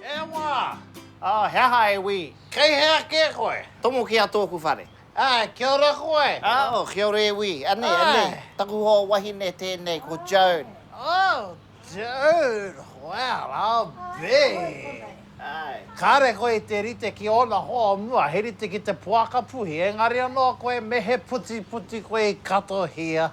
E wā! Oh, he aha e wī? Kei hea kē koe? Tomo ki a tōku whare. Ah, kia ora koe! Ah, oh, kia ora e wī. Anei, anei, taku hoa wahine tēnei, ko Joan. Oh, Joan! Well, I'll be! Ai. Kāre koe i te rite ki ōna hoa o mua, he rite ki te poaka puhi, engari anō koe me he putiputi koe i katohia.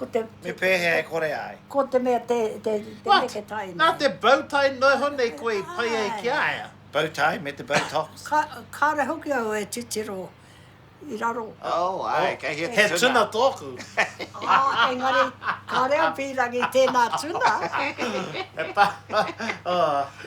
Ko te... Me pēhea e kore ai? Ko te mea te, te, te neke tai nei. What? Nā te bow tie noho nei koe i pai ai ki a ia? Bow tie me te bow tops. Ka, kāre hoki au e titiro i raro. Oh, ai, kei hea te tuna. He tuna tōku. Oh, engari, kāre au pīrangi tēnā tuna. He pa, oh.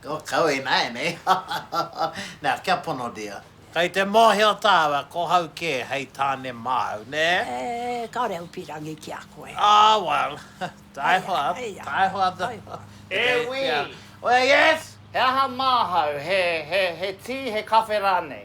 Ko kau ināianei Nā, kia pono dia. Kei te mōhio tāua ko hau kē hei tāne māu, nē? Eh, kāore au pīrangi ki a koe. Oh, well, taihoa, taihoa the, E wī! Well, yes! He aha māhau, he, he, he tī, he kawhe rānei?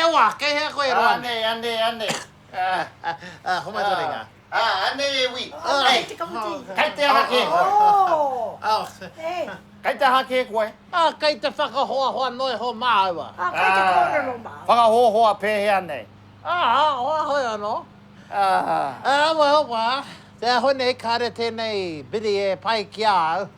Ewa! Kei hea koe e roa nei? Anei, anei, anei. Homai tō ringa. Anei e wi. Kei te kapu tī. Kei te aha kē koe? Kei te aha kē koe? Kei te whakahoahoa noiho māua. Kei te kōrero māua. Whakahoahoa pēhea nei? Hoahoe anō. Awa, awa. Te aho nei kāre tēnei biri e pai ki a au.